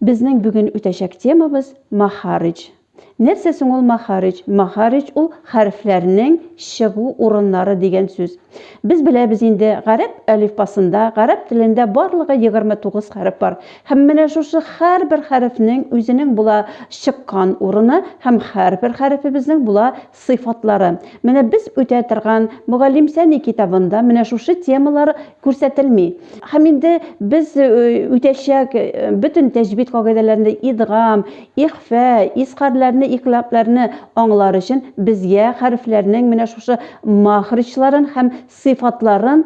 Безнең бүген үтәчәк темабыз махаридж. Нәрсә соң ул махаридж? Махаридж ул хәрефләрнең чыгу урыннары дигән сүз. Без беләбез инде, гарәп әлифбасында, гарәп телендә барлыгы 29 хәреф бар. Һәм менә шушы һәрбер хәрефнең үзенең була чыккан урыны һәм һәрбер хәрефебезнең була сыйфатлары. Менә без үтә торган Мөгаллимсәни китабында менә шушы темалар күрсәтелми. Һәм инде без үтәчәк бөтен тәҗвид кагыйдәләрендә идгам, ихфә, изхарләрне, икълабләрне аңлар өчен безгә хәрефләрнең менә шушы махриҗларын һәм сыйфатларын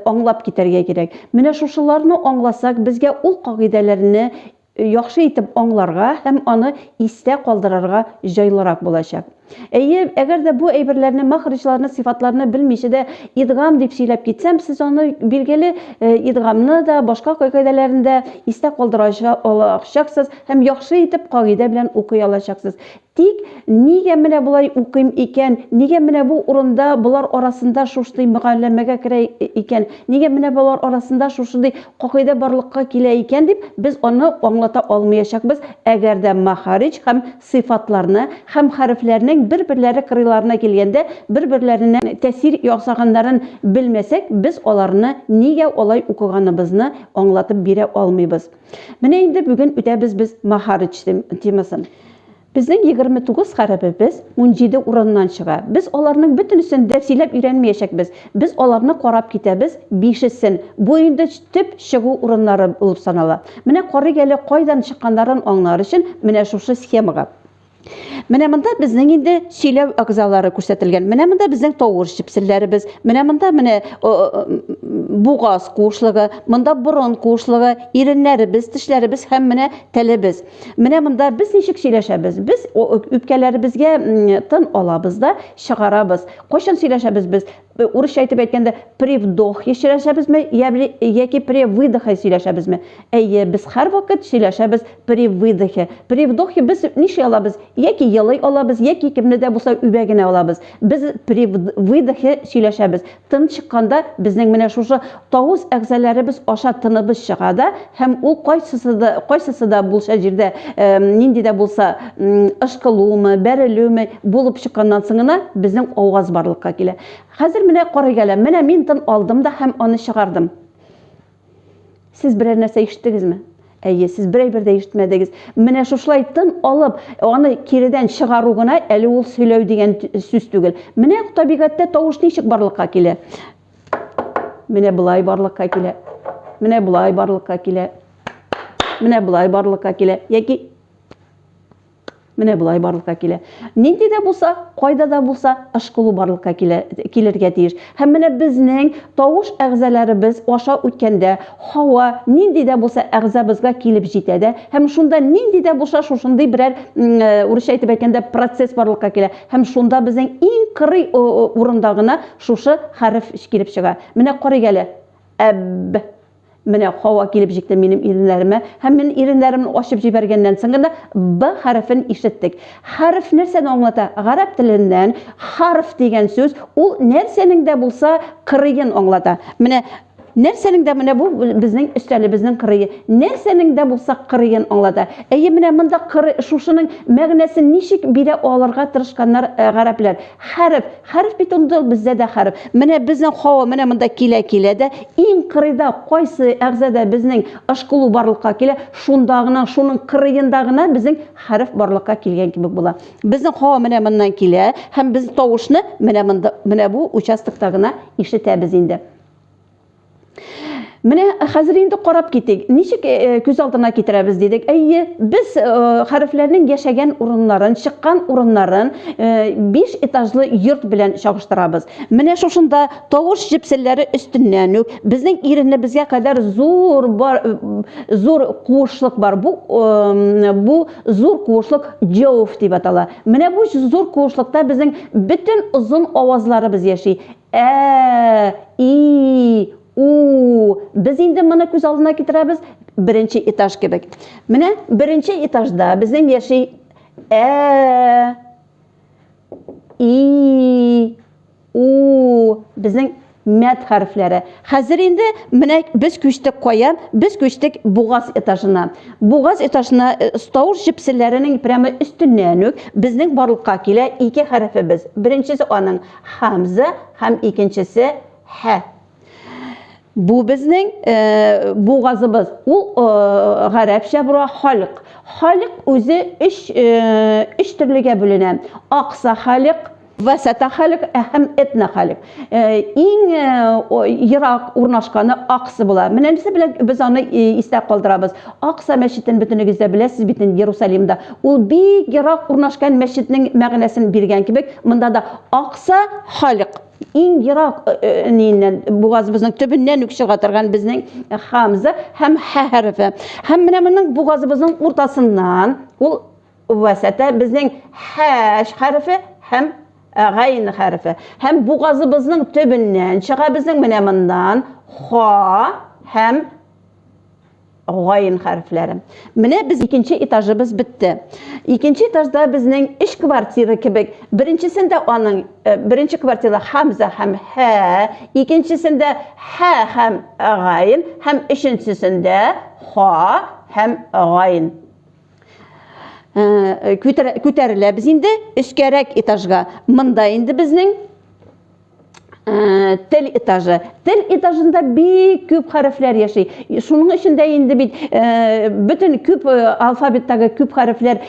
аңлап китәргә кирәк. Менә шушыларны аңласак, безгә ул кагыйдәләрне яхшы итеп аңларга һәм аны истә калдырырга җайлырак булачак. Әйе, әгәр дә бу әйберләрне, мәхриҗларны, сыйфатларны белмичә дә идгам дип сөйләп китсәм, сез аны, билгеле, идгамны да, башка кагыйдәләрен дә истә калдыра алачаксыз һәм яхшы итеп кагыйдә белән укый алачаксыз. Тик, нигә менә болай укыйм икән, нигә менә бу урында, болар арасында шушдый мөгалләмәгә керә икән, нигә менә болар арасында шушындый кагыйдә барлыкка килә икән, дип, без аны аңлата алмыячакбыз, әгәр дә мәхарич һәм сыйфатларны һәм хәрефләрнең бер-берләре кырыйларына килгәндә бер-берләренә тәэсир ясаганнарын белмәсәк, без аларны нигә алай укыганыбызны аңлатып бирә алмыйбыз. Менә инде бүген үтәбез без Махарыч темасын. Безнең 29 гарәбебез 17 урыннан чыга. Без аларның бөтенесен дә сөйләп өйрәнмәячәкбез. Без аларны карап китәбез, бишесен. Бу инде төп чыгу урыннары булып санала. Менә карыйк әле кайдан чыкканнарын аңлар өчен менә шушы схемага. Менә монда безнең инде сөйләү әгъзалары күрсәтелгән. Менә монда безнең тавыш чепселләребез. Менә монда менә бугаз куышлыгы, монда борын куышлыгы, иреннәребез, тешләребез һәм менә телебез. Менә монда без ничек сөйләшәбез? Без үпкәләребезгә тын алабыз да чыгарабыз. Кайчан сөйләшәбез без? Урысча әйтеп әйткәндә, при вдохе сөйләшәбезме, яки при выдохе сөйләшәбезме? Әйе, без һәрвакыт сөйләшәбез при выдохе. При вдохе без ниши алабыз? Яки елый алабыз, яки кемне дә булса үбә генә алабыз. Без при выдохе сөйләшәбез. Тын чыкканда безнең менә шушы Тавыз әгъзаларыбыз аша тыныбыз чыга да, һәм ул кайсысы да, кайсысы да булса җирдә, нинди дә булса ышкылумы, бәрелүме булып чыкканнан соң гына безнең аваз барлыкка килә. Хәзер менә карыйк әле, менә мин тын алдым да һәм аны чыгардым. Сез берәр нәрсә ишеттегезме? Әйе, сез бер әйбер дә ишетмәдегез. Менә шушылай тын алып, аны киредән чыгару гына әле ул сөйләү дигән сүз түгел. Менә табигатьтә тавыш ничек барлыкка килә. Менә болай барлыкка килә. Менә болай барлыкка килә. Менә болай барлыкка килә. Яки Менә болай барлыкка килә. Нинди дә булса, кайда да булса, ышкылу барлыкка килә, килергә тиеш. Һәм менә безнең тавыш әгъзаларыбыз аша үткәндә, һава нинди дә булса әгъзабызга килеп җитә дә, һәм шунда нинди дә булса шушындый берәр э, урысча әйтеп әйткәндә процесс барлыкка килә. Һәм шунда безнең иң кырый урында гына Шушы хәреф килеп чыга. Менә карыйк әле. Әбб. Менә һава килеп җитте минем иреннәремә, һәм мин иреннәремне ачып җибәргәннән соң гына Б хәрефен ишеттек. Хәреф нәрсәне аңлата? Гарәп теленнән харф дигән сүз, ул нәрсәнең дә булса кырыен аңлата. Менә Нәрсәнең дә менә бу безнең өстәлебезнең кырые. Нәрсәнең дә булса кырыен аңлата. Әйе, менә монда кыры, шушының мәгънәсен ничек бирә алырга тырышканнар э, гарәпләр. Хәреф, хәреф бит ул бездә дә хәреф. Менә безнең Хава менә монда килә-килә дә, иң кырыйда кайсы әгъзада безнең ышкылу барлыкка килә, шунда гына, шуның кырыенда гына безнең хәреф барлыкка килгән кебек була. Безнең Хава менә моннан килә һәм без тавышны менә монда, менә бу участокта гына ишетәбез инде. Менә хәзер инде карап китик, ничек э, э, күз алдына китерәбез дидек. Әйе, без э, хәрефләрнең яшәгән урыннарын, чыккан урыннарын 5 этажлы йорт белән чагыштырабыз. Менә шушында тавыш җепселләре өстеннән үк безнең иренебезгә кадәр зур бар зур куышлык бар. Бу бу зур куышлык җәүф дип атала. Менә бу зур куышлыкта безнең бөтен озын авазларыбыз яши. Ә, и, у, без инде моны күз алдына китерәбез, беренче этаж кебек. Менә беренче этажда безнең яши Ә, и, у, безнең мәт хәрефләре. Хәзер инде менә без күчтек кая? Без күчтек бугаз этажына. Бугаз этажына э, стаур җепселләренең прямо өстеннән үк безнең барлыкка килә ике хәрефебез. Беренчесе аның Хамза һәм икенчесе һә. Бу безнең э, бугазыбыз. Ул э, гарәпчә була халык. Халык үзе өч, э, өч төрлегә бүленә. Акса халык, вәсәтә халык һәм этна халык. Э, иң э, ерак урнашканы аксы була. Менә нәрсә белән без аны э, истә калдырабыз. Акса мәчетен бөтенегез дә беләсез бит инде Иерусалимда. Ул бик ерак урнашкан мәчетнең мәгънәсен биргән кебек, монда да Акса халык иң ерак э, э, ниеннән бугазыбызның төбеннән үк чыга торган безнең хамза һәм ха хәрефе. Һәм менә моның бугазыбызның уртасыннан ул вәсәтә безнең хәш хәрефе һәм э, гайн хәрефе. Һәм бугазыбызның төбеннән чыга безнең менә моннан ха һәм Гайн хәрефләре. Менә без икенче этажыбыз бетте. Икенче этажда безнең эш квартира кебек. Беренчесендә аның э, беренче квартира Хамза һәм Һә, икенчесендә Һә һәм Гайн һәм өченчесендә Ха һәм Гайн. Э, күтәреләбез инде өскәрәк этажга. Монда инде безнең Э, тел этажы тел этажында бик күп хәрефләр яши шуның өчен дә инде бит э, бөтен күп э, алфавиттагы күп хәрефләр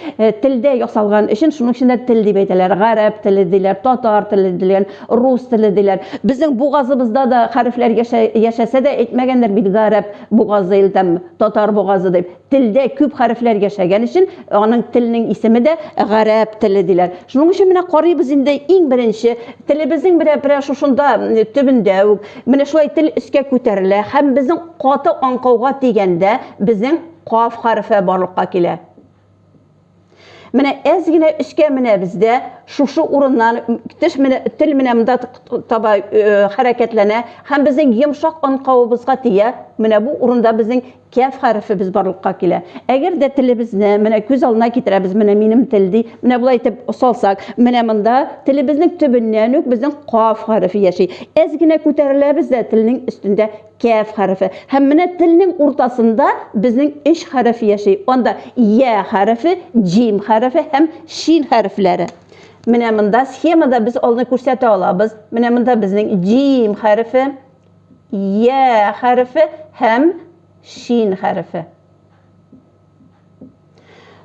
телдә ясалган өчен шуның өчен дә тел дип әйтәләр гарәп теле диләр татар теле диләр рус теле диләр безнең бугазыбызда да хәрефләр яшәсә дә әйтмәгәннәр бит гарәп бугазы или там татар бугазы дип Телдә күп хәрефләр яшәгән өчен аның телнең исеме дә гарәп теле диләр. Шуның өчен менә карыйбыз инде иң беренче телебезнең берә берә шушында төбендә үк менә шулай тел өскә күтәрелә һәм безнең каты аңкауга тигәндә безнең каф хәрефе барлыкка килә. Менә әз генә өскә менәбез дә, шушы урыннан теш менә тел менә монда таба хәрәкәтләнә һәм безнең йомшак анкавыбызга тия. Менә бу урында безнең кәф хәрефебез барлыкка килә. Әгәр дә телебезне менә күз алдына китерәбез, менә минем тел ди. Менә болай итеп салсак, менә монда телебезнең төбеннән үк безнең каф хәрефе яши. Әз генә күтәреләбез дә, телнең өстендә Кәф хәрефе. Һәм менә телнең уртасында безнең өч хәреф яши. Анда я хәрефе, җим хәрефе һәм шин хәрефләре. Менә монда схемада без алны күрсәтә алабыз. Менә монда безнең җим хәрефе, я хәрефе һәм шин хәрефе.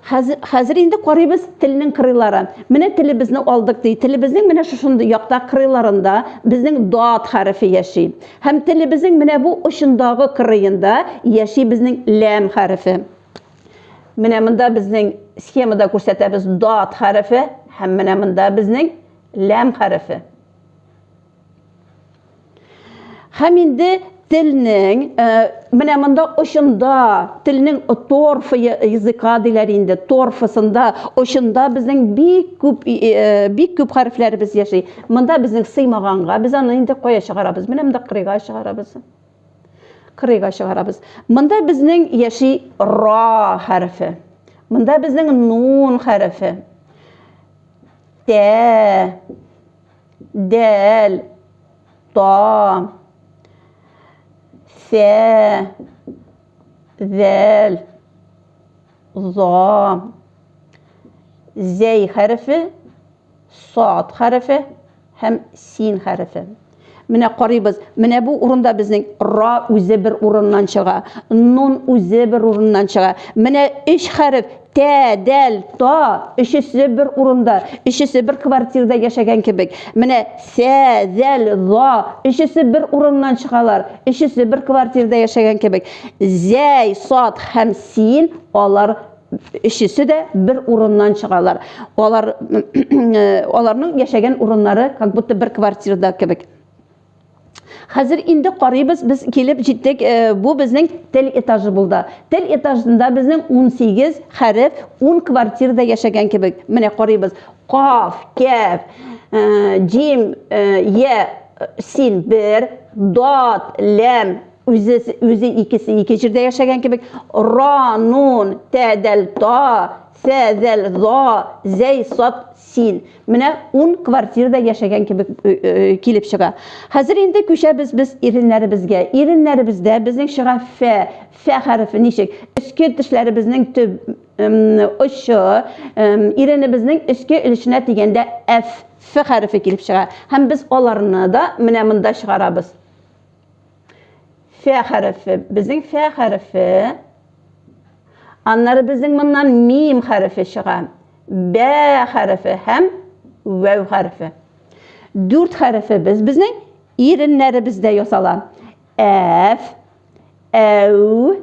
Хәзер, хәзер инде карыйбыз телнең кырыйлары. Менә телебезне алдык ди. Телебезнең менә шушындый якта кырыйларында безнең дат хәрефе яши. Һәм телебезнең менә бу очындагы кырыенда яши безнең ләм хәрефе. Менә монда безнең схемада күрсәтәбез дат хәрефе һәм менә монда безнең ләм хәрефе. Һәм инде телнең э, менә монда очында телнең торфы языка диләр инде торфысында очында безнең бик күп э, бик күп хәрефләребез яши монда безнең сыймаганга без аны инде кая чыгарабыз менә монда кырыйга чыгарабыз кырыйга чыгарабыз монда безнең яши ра хәрефе монда безнең нун хәрефе тә дәл, та, сә, зәл, за, зәй хәрефе, сад хәрефе һәм син хәрефе. Менә карыйбыз, менә бу урында безнең ра үзе бер урыннан чыга, нун үзе бер урыннан чыга. Менә өч хәреф тә, дәл, та, өчесе бер урында, өчесе бер квартирда яшәгән кебек. Менә сә, зәл, за, өчесе бер урыннан чыгалар, өчесе бер квартирда яшәгән кебек. Зәй, сад һәм син, алар өчесе дә бер урыннан чыгалар. Алар аларның яшәгән урыннары как будто бер квартирада кебек. Хәзер инде карыйбыз, без килеп җиттек. Э, бу безнең тел этажы булды. Тел этажында безнең 18 хәреф 10 квартирада яшәгән кебек. Менә карыйбыз. Каф, кәф, э, җим, э, я, син бер, дат, ләм, Үзе, үзе икесе ике җирдә яшәгән кебек. Ра, нун, тәдәл, та, сәдәл, за, зәй, сат, син. Менә ун квартирада яшәгән кебек килеп чыга. Хәзер инде күчәбез без иреннәребезгә. Иреннәребездә безнең чыга фә, фә хәрефе ничек? Өске тешләребезнең төп очы иренебезнең өске өлешенә дигәндә әф, ф хәрефе килеп чыга. Һәм без аларны да менә монда чыгарабыз. Фә хәрефе. Безнең фә хәрефе. Аннары безнең моннан мим хәрефе чыга. Бә хәрефе һәм вәү хәрефе. Дүрт хәрефе без безнең иреннәребездә ясала. Әф, әү,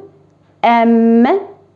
әм,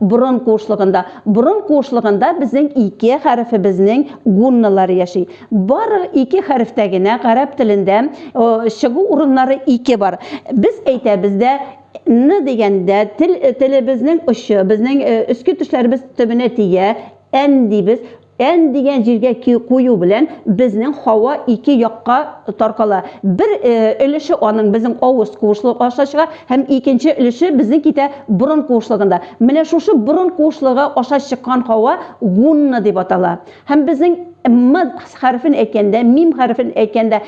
Борын куышлыгында. Борын куышлыгында безнең ике хәрефебезнең гунналары яши. Бары ике хәрефтә генә гарәп телендә чыгу урыннары ике бар. Без әйтәбез дә, ны дигәндә, тел телебезнең очы, безнең өске тешләребез төбенә тигә, ән дибез. N дигән җиргә кую белән безнең һава ике якка таркала. Бер өлеше аның безнең авыз куышлыгы аша чыга һәм икенче өлеше безнең китә борын куышлыгында. Менә шушы борын куышлыгы аша чыккан һава гунна дип атала. Һәм безнең M хәрефен әйткәндә, мим хәрефен әйткәндә,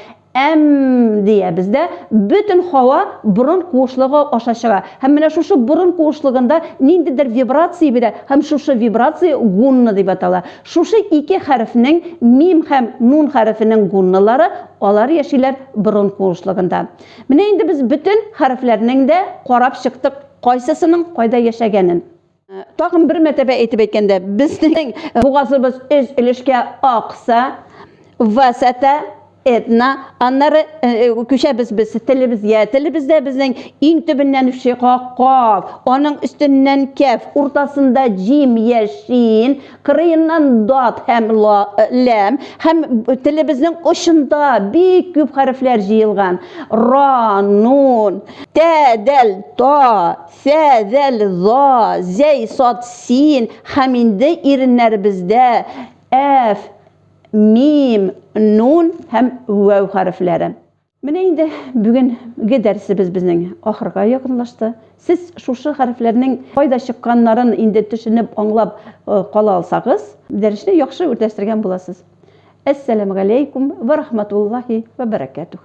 Әм диябез дә, бөтен һава борын куышлыгы аша чыга. Һәм менә шушы борын куышлыгында ниндидер вибрация бирә, һәм шушы вибрация гунна дип атала. Шушы ике хәрефнең, мим һәм нун хәрефенең гунналары, алар яшиләр борын куышлыгында. Менә инде без бөтен хәрефләрнең дә карап чыктык, кайсысының кайда яшәгәнен. Тагын бер мәртәбә әйтеп әйткәндә, безнең бугазыбыз өз өлешкә акса, васата, этна, аннары күчәбез без телебезгә. Телебездә безнең иң төбеннән шига каф, аның өстеннән кәф, уртасында җим я шин, кырыеннан дат һәм ла, ләм һәм телебезнең очында бик күп хәрефләр җыелган. Ра, нун, тә, дәл, та, Сә, зәл, за, зәй, сад, син, һәм инде иреннәребездә әф, мим, нун һәм вәү хәрефләре. Менә инде бүгенге дәресебез безнең ахырга якынлашты. Сез шушы хәрефләрнең кайда чыкканнарын инде төшенеп, аңлап кала алсагыз, дәресне яхшы үтәштергән буласыз. Әссәламегаләйкүм вә рахматуллаһи вә бәрәкәтүһ.